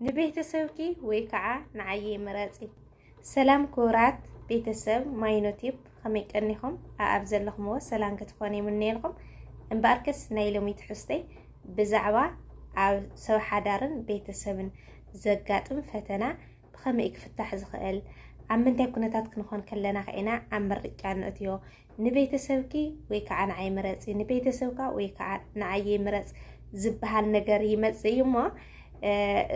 ንቤተሰብኪ ወይ ከዓ ንዓየይ ምረፂ። ሰላም ክቡራት ቤተሰብ ማይኖቲብ ከመይ ቀኒኹም ኣብ ዘለኹምዎ ሰላም ክትኾኑ ይምነየልኩም። እምበኣርከስ ናይ ሎሚ ትሕዝተይ ብዛዕባ ኣብ ሰብ ሓዳርን ቤተሰብን ዘጋጥም ፈተና ብኸመይ ክፍታሕ ዝኽእል ኣብ ምንታይ ኩነታት ክንኾን ከለና ከኢና ኣብ ምርጫ ንእትዮ ንቤተሰብኪ ወይ ከዓ ንዓይ ምረፂ፣ ንቤተሰብካ ወይ ከዓ ንዓየይ ምረፅ ዝበሃል ነገር ይመፅእ እዩ እሞ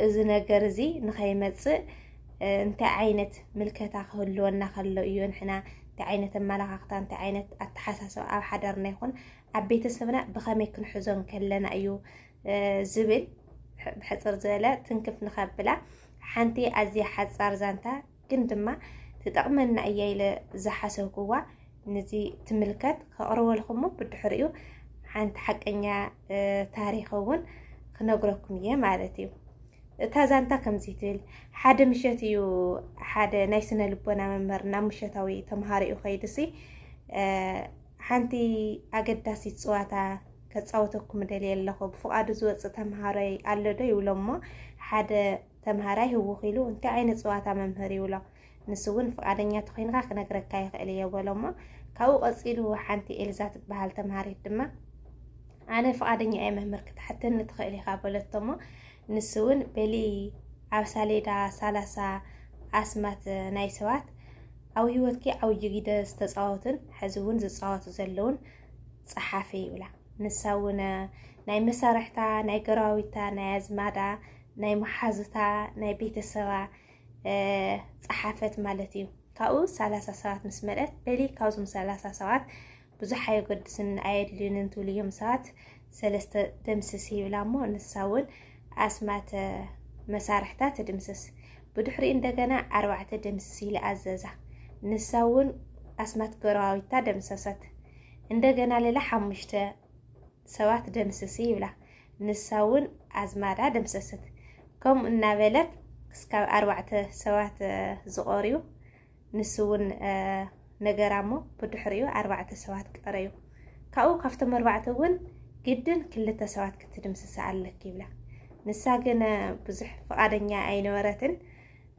እዚ ነገር እዚ ንኸይመፅእ እንታይ ዓይነት ምልከታ ክህልወና ከሎ እዩ ንሕና እንታይ ዓይነት ኣመላኻኽታ እንታይ ዓይነት ኣተሓሳስባ ኣብ ሓዳርና ይኹን ኣብ ቤተሰብና ብኸመይ ክንሕዞም ከለና እዩ ዝብል ብሕፅር ዝበለ ትንክፍ ንኸብላ ሓንቲ ኣዝያ ሓፃር ዛንታ ግን ድማ ትጠቕመና እያ ኢለ ዝሓሰብኩዋ ንዚ ትምልከት ከቕርበልኩሞ ብድሕሪኡ ሓንቲ ሓቀኛ ታሪኽ እውን ክነግረኩም እየ ማለት እዩ እታ ዛንታ ከምዚ ትብል ሓደ ምሸት እዩ ሓደ ናይ ስነ ልቦና መምህር ናብ ምሸታዊ ተምሃሪኡ ከይድሲ ሓንቲ ኣገዳሲት ፅዋታ ከፃወተኩም ደልየ ኣለኹ ብፍቓዱ ዝወፅእ ተምሃሮይ ኣሎ ዶ ይብሎሞ ሓደ ተምሃራይ ህውኽ ኢሉ እንታይ ዓይነት ጸዋታ መምህር ይብሎ ንሱ እውን ፍቃደኛ ተኾይንካ ክነግረካ ይኽእል እየ በሎ እሞ ካብኡ ቀጺሉ ሓንቲ ኤልዛ ትበሃል ተምሃሪት ድማ ኣነ ፍቃደኛ እየ መምህር ክትሓተኒ ትኽእል ኢኻ በለቶ እሞ ንሱ እውን በሊ ኣብ ሳሌዳ ሳላሳ ኣስማት ናይ ሰባት ኣብ ህይወትኪ ዓብዪ ግደ ዝተፃወቱን ሕዚ እውን ዝፃወቱ ዘለውን ፀሓፊ ይብላ ንሳ እውን ናይ መሳርሕታ ናይ ገራዊታ ናይ ኣዝማዳ ናይ መሓዙታ ናይ ቤተሰባ ፀሓፈት ማለት እዩ። ካብኡ ሰላሳ ሰባት ምስ መልአት በሊ ካብዞም ሰላሳ ሰባት ብዙሕ ኣየገድስን ኣየድልዩንን ትብሉ እዮም ሰባት ሰለስተ ደምስስ ይብላ እሞ ንሳ እውን ኣስማት መሳርሕታ ትድምስስ። ብድሕሪ እንደገና ኣርባዕተ ደምስስ ኢለ ኣዘዛ። ንሳ እውን ኣስማት ገረዋዊታ ደምሰሰት። እንደገና ሌላ ሓሙሽተ ሰባት ደምስሲ ይብላ፣ ንሳ እውን ኣዝማዳ ደምሰሰት። ከምኡ እናበለት ክስካብ ኣርባዕተ ሰባት ዝቖርዩ፣ ንሱ እውን ነገራ እሞ ብድሕሪኡ ኣርባዕተ ሰባት ቀረዩ። ካብኡ ካብቶም ኣርባዕተ እውን ግድን ክልተ ሰባት ክትድምስሲ ኣለኪ ይብላ። ንሳ ግን ብዙሕ ፍቓደኛ ኣይነበረትን፣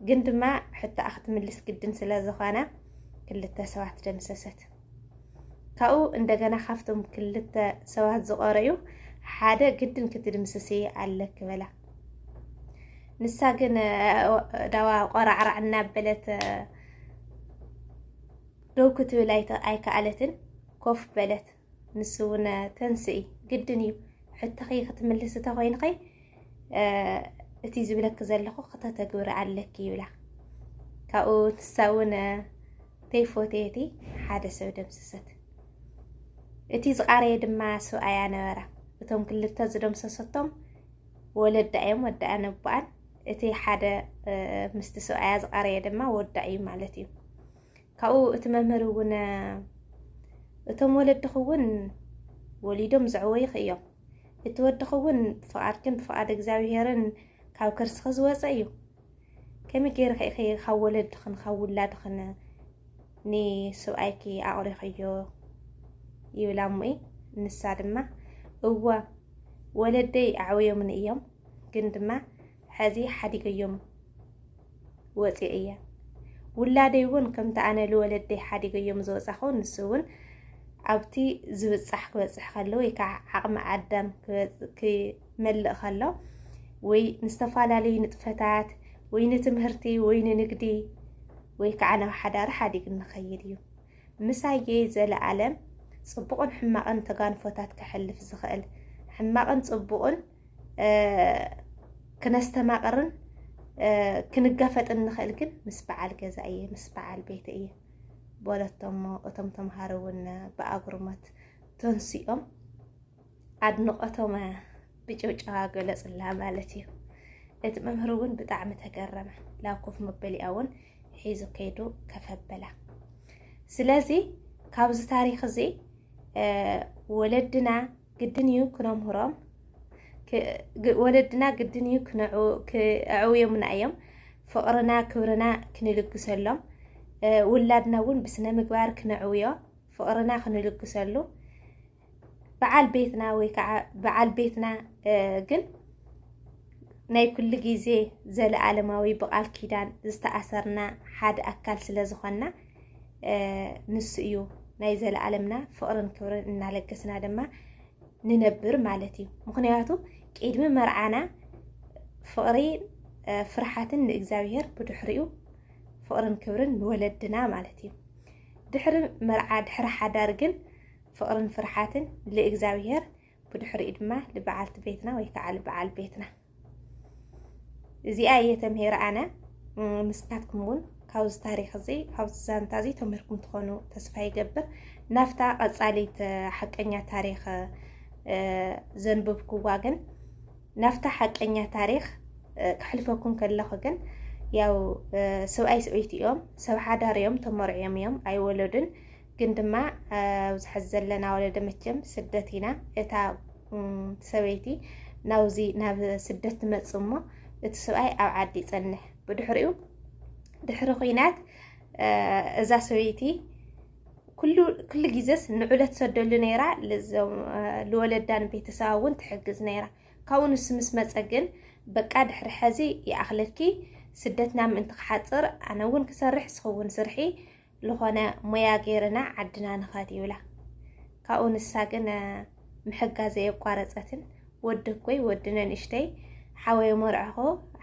ግን ድማ ሕቶኣ ክትምልስ ግድን ስለ ዝኾነ ክልተ ሰባት ደምሰሰት። ካብኡ እንደገና ካብቶም ክልተ ሰባት ዝቐረዩ ሓደ ግድን ክትድምስሲ ኣለኪ በላ። ንሳ ግን ዳዋ ቆራዕራዕ እናበለት ደው ክትብል ኣይከኣለትን፣ ኮፍ በለት። ንሱ እውን ተንስኢ ግድን እዩ ሕቶኺ ክትምልስ እንተኮይንኺ እቲ ዝብለኪ ዘለኹ ክተተግብሪ ኣለኪ ይብላ ካብኡ ንሳ እውን ተይፎተየቲ ሓደ ሰብ ደምሰሰት። እቲ ዝቓረየ ድማ ሰብኣያ ነበረ። እቶም ክልተ ዝደምሰሰቶም ወለዳ እዮም፣ ወዳኣ ነቦኣን። እቲ ሓደ ምስቲ ሰብኣያ ዝቓረየ ድማ ወዳ እዩ ማለት እዩ። ካብኡ እቲ መምህር እውን እቶም ወለድኽ እውን ወሊዶም ዘዕወይኽ እዮም። እቲ ወድኽ እውን ብፍቓድክን ብፍቓድ እግዚኣብሄርን ካብ ከርስኺ ዝወፀ እዩ። ከመይ ገይርኺ ኢኺ ካብ ወለድኽን ካብ ውላድኽን ንስብኣይኪ ኣቑሪኽዮ ይብላ እሙይ ንሳ ድማ እወ ወለደይ ኣዕውዮምኒ እዮም ግን ድማ ሕዚ ሓዲገዮም ወፂ እያ ውላደይ እውን ከምቲ ኣነ ልወለደይ ሓዲገዮም ዝወፃኹ ንሱ እውን ኣብቲ ዝብፃሕ ክበፅሕ ከሎ ወይ ከዓ ዓቕሚ ኣዳም ክመልእ ከሎ ወይ ንዝተፈላለዩ ንጥፈታት ወይ ንትምህርቲ ወይ ንንግዲ ወይ ከዓ ናብ ሓዳር ሓዲግ ንኸይድ እዩ ምሳየ ዘለኣለም ፅቡቕን ሕማቕን ተጋንፎታት ከሕልፍ ዝኽእል ሕማቕን ፅቡቕን ክነስተማቕርን ክንጋፈጥን ንኽእል ግን ምስ በዓል ገዛ እየ ምስ በዓል ቤት እየ በለቶሞ እቶም ተምሃሮ እውን ብኣጉርሞት ተንሲኦም ኣድንቆቶመ ብጭውጨዋ ገለጽላ ማለት እዩ። እቲ መምህር እውን ብጣዕሚ ተገረመ። ናብ ኮፍ መበሊኣ እውን ሒዙ ከይዱ ከፍ ኣበላ። ስለዚ ካብዚ ታሪክ እዚ ወለድና ግድን እዩ ክነምህሮም፣ ወለድና ግድን እዩ ክዕውዮምና እዮም፣ ፍቕርና ክብርና ክንልግሰሎም፣ ውላድና እውን ብስነ ምግባር ክነዕውዮ፣ ፍቕርና ክንልግሰሉ በዓል ቤትና ወይ ከዓ በዓል ቤትና ግን ናይ ኩሉ ግዜ ዘለኣለማዊ ብቓል ኪዳን ዝተኣሰርና ሓደ ኣካል ስለ ዝኾንና ንሱ እዩ ናይ ዘለኣለምና ፍቕርን ክብርን እናለገስና ድማ ንነብር ማለት እዩ። ምክንያቱ ቅድሚ መርዓና ፍቕሪ ፍርሓትን ንእግዚኣብሔር ብድሕሪኡ ፍቕርን ክብርን ንወለድና ማለት እዩ። ድሕሪ መርዓ ድሕሪ ሓዳር ግን ፍቕርን ፍርሓትን ልእግዚኣብሔር ብድሕሪኡ ድማ ልበዓልቲ ቤትና ወይ ከዓ ልበዓል ቤትና እዚኣ እየ ተምሄረ ኣነ ንስኻትኩም እውን ካብዚ ታሪክ እዚ ካብዚ ዛንታ እዚ ተምህርኩም ትኾኑ ተስፋ ይገብር ናፍታ ቀፃሊት ሓቀኛ ታሪክ ዘንብብክዋ ግን ናፍታ ሓቀኛ ታሪክ ክሕልፈኩም ከለኹ ግን ያው ሰብኣይ ሰበይቲ እዮም ሰብ ሓዳር እዮም ተመርዕዮም እዮም ኣይወለዱን ግን ድማ ኣብዚ ሐዚ ዘለና ወለደ መቸም ስደት ኢና እታ ሰበይቲ ናብዚ ናብ ስደት ትመፅእ እሞ እቲ ሰብኣይ ኣብ ዓዲ ይፀንሕ ብድሕሪኡ ድሕሪ ኩናት እዛ ሰበይቲ ኩሉ ግዜስ ንዑለት ሰደሉ ነይራ ልዞም ልወለዳን ቤተሰባ እውን ትሕግዝ ነይራ ካብኡ ንሱ ምስ መፀ ግን በቃ ድሕሪ ሐዚ ይኣኽለኪ ስደትና ምእንቲ ክሓፅር ኣነ እውን ክሰርሕ ንስኺ እውን ስርሒ ዝኾነ ሙያ ገይርና ዓድና ንኸድ ይብላ ካብኡ ንሳ ግን ምሕጋዝ ዘየቋረፀትን ወዲ እኮይ ወዲ ነንእሽተይ ሓወይ መርዕኾ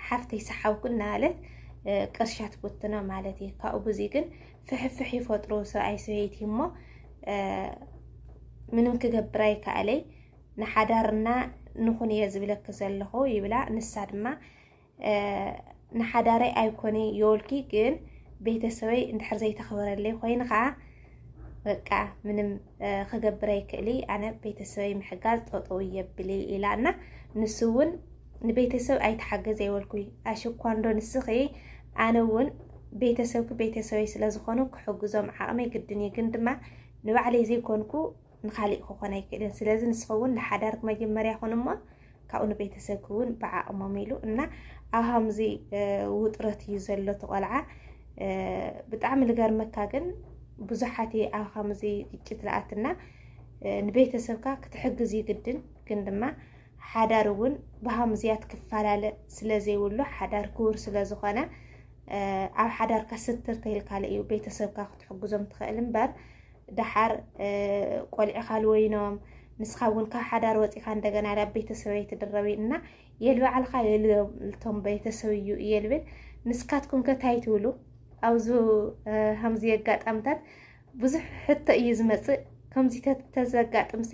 ሓፍተይ ሰሓብኩ እናበለት ቅርሻ ትኩትኖ ማለት እዩ ካብኡ ብዙ ግን ፍሕፍሕ ይፈጥሩ ሰብኣይ ሰበይቲ እሞ ምንም ክገብር ኣይከኣለይ ንሓዳርና ንኹን እየ ዝብለኪ ዘለኹ ይብላ ንሳ ድማ ንሓዳረይ ኣይኮነ የወልኪ ግን ቤተሰበይ እንድሕር ዘይተኽበረለይ ኮይኑ ከዓ በቃ ምንም ክገብር ኣይክእሊ ኣነ ቤተሰበይ ምሕጋዝ ጠጠው የብሊ ኢላ እና ንሱ እውን ንቤተሰብ ኣይተሓገዘ የወልኩይ ኣሽኳ እንዶ ንስኺ ኣነ እውን ቤተሰብኪ ቤተሰበይ ስለዝኾኑ ክሕግዞም ዓቕመይ ግድን እዩ ግን ድማ ንባዕለይ ዘይኮንኩ ንኻሊእ ክኾን ኣይክእልን ስለዚ ንስኸውን ንሓዳርክ መጀመርያ ኹን እሞ ካብኡ ንቤተሰብክ እውን ብዓቕሞም ኢሉ እና ኣብ ሃምዚ ውጥረት እዩ ዘሎ ተቆልዓ ብጣዕሚ ልገርመካ ግን ብዙሓት ኣብ ሃምዚ ግጭት ልኣትና ንቤተሰብካ ክትሕግዝ እዩ ግድን ግን ድማ ሓዳር እውን ብሃምዝያት ክፈላለ ስለዘይብሉ ሓዳር ክቡር ስለዝኾነ ኣብ ሓዳርካ ስትር ተይልካለ እዩ ቤተሰብካ ክትሕግዞም ትኽእል እምበር ደሓር ቆልዕኻ ልወይኖም ንስኻ እውን ካብ ሓዳር ወፂኻ እንደገና ናብ ቤተሰብ ኣይትድረብ እና የልባዕልኻ የልቶም ቤተሰብ እዩ እየ ልብል ንስካትኩም ከታይ ትብሉ ኣብዚ ከምዚ ኣጋጣምታት ብዙሕ ሕቶ እዩ ዝመፅእ ከምዚ ተዘጋጥምሲ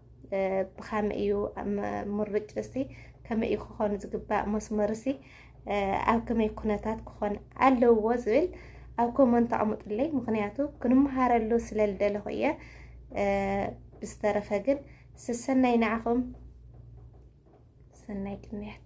ብኸመይ እዩ ምርጭ እሲ ከመይ እዩ ክኾን ዝግባእ መስመር እሲ ኣብ ከመይ ኩነታት ክኾን ኣለዎ ዝብል ኣብ ኮመንት ተቐምጡለይ ምክንያቱ ክንመሃረሉ ስለ ዝደለኹ እየ ብዝተረፈ ግን ስሰናይ ንዓኹም ሰናይ ቅንያት